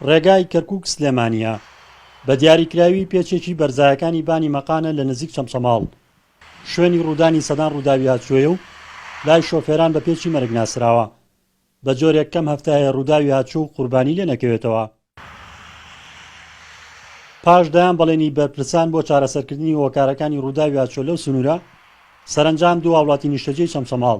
ڕێگای کەرکوک سلێمانیە بە دیاریکراوی پێچێکی بەرزایەکانی بانی مەقانە لە نزیک چەمچەماڵ شوێنی ڕوودانی سەدان ڕووداوی هاتچۆیە و لای شۆفێران بە پێچی مەرگ ناسراوە بە جۆرێک کەم هەفتایە ڕووداوی هاتچۆ و قوربانی لێ نەکەوێتەوە پاش دەیان بەڵێنی بەرپرسان بۆ چارەسەرکردنی هۆکارەکانی ڕووداوی هاتچۆ لەو سنوورە سەرنجام دوو هاوڵاتی نیشتەجێی چەمچەماڵ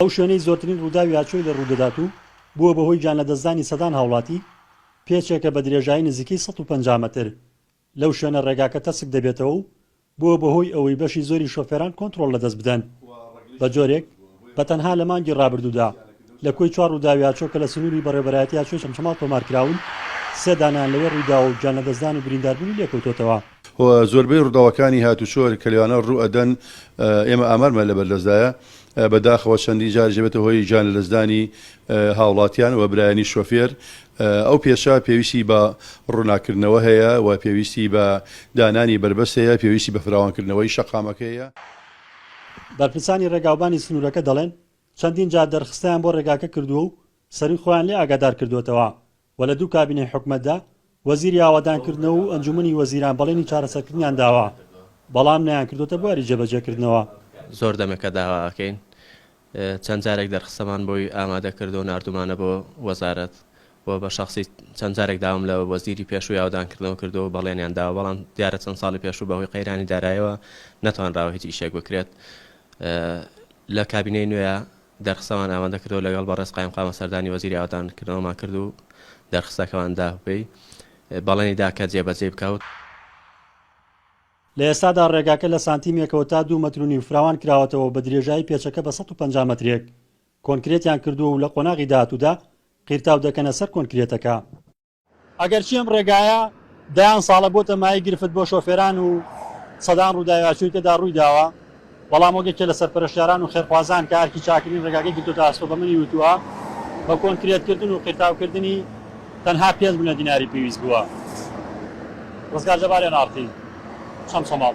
ئەو شوێنەی زۆرترین ڕووداوی ئاچۆی لێ ڕوودەدات و بووە بە هۆی گیانلەدەستدانی سەدان هاوڵاتی، پێچێکە بە درێژایی نزیکەی سەد و پەنجا مەتر، لەو شوێنە ڕێگاکە تەسک دەبێتەوە و بووە بە هۆی ئەوەی بەشی زۆری شۆفێران کۆنتڕۆڵ لەدەست بدەن بە جۆرێک، بە تەنها لە مانگی ڕابردوودا لە کۆی چوار ڕووداوی ئاچۆ کە لە سنووری بەڕێوەبەرایەتی ئاچۆی چەمچەماڵ تۆمارکراون، سێ دانەیان لەوێ ڕوویداوە و گیانلەدەستدان و برینداربوونی لێکەوتۆتەوە. و زۆربەی ڕووداوەکانی هاتووچۆ کە لەوانە ڕوو ئەدەن ئێمە ئامارمان لە بەردەستدایە، بە داخەوە چەندین جاریش دەبێتە هۆی گیان لەدەستدانی هاوڵاتیان و برایانی شۆفێر، ئەو پێشە پێویستی بە ڕووناککردنەوە هەیە و پێویستی بە دانانی بەربەست هەیە، پێویستی بە فراوانکردنەوەی شەقامەکە هەیە. بەرپرسانی ڕێگاوبانی سنوورەکە دەڵێن، چەندین جار دەرخستەیان بۆ ڕێگاکە کردووە و سەرووی خۆیان لێ ئاگادار کردووەتەوە، و لە دوو کابینەی حکومەتدا وەزیری ئاوەدانکردنەوە و ئەنجوومەنی وەزیران بەڵێنی چارەسەرکردنیان داوە، بەڵام نەیانکردووەتە بواری جێبەجێکردنەوە. زۆر دەمێکە داوا ئەکەین، چەند جارێک دەرخستەمان بۆی ئامادە کردووە و ناردوومانە بۆ وەزارەت و بە شەخسی چەند جارێک داوام لە وەزیری پێشووی ئاوەدانکردنەوە کردووە و بەڵێنیان داوە، بەڵام دیارە چەند ساڵی پێشوو بەهۆی قەیرانی داراییەوە نەتوانراوە هیچ ئیشێک بکرێت لە کابینەی نوێ. دەرخستەمان ئامادە کردو لەگەڵ بەڕێز قایمقامە سەردانی وەزیری ئاوەدانکردنەوەمان کرد و دەرخستەکەمان دا و پێی بەڵێنی دا کە جێبەجێی بکا. لە ئێستادا ڕێگاکە لە سانتیمێکەوە تا دوو مەتر و نیو فراوان کراوەتەوە و بە درێژایی پێچەکە بە سەد و پەنجا مەترێک کۆنکرێتیان کردووە و لە قۆناغی داهاتوودا قیرتاو دەکەنە سەر کۆنکرێتەکە. ئەگەرچی ئەم ڕێگایە دەیان ساڵە بۆتە مایەی گرفت بۆ شۆفێران و سەدان ڕووداوی ئاسووری تێدا ڕووی داوە، بەڵام وەک یەکێ لە سەرپەرشتیاران و خێرخوازان کە ئەرکی چاککردنی ڕێگاکەی گرتۆتە ئەستۆ بە منی وتووە، بە کۆنکرێتکردن و قیرتاوکردنی تەنها پێنج ملیۆن دیناری پێویست بووە. ڕزگار جەبار، ئێن ئاڕ تی، چەمچەماڵ.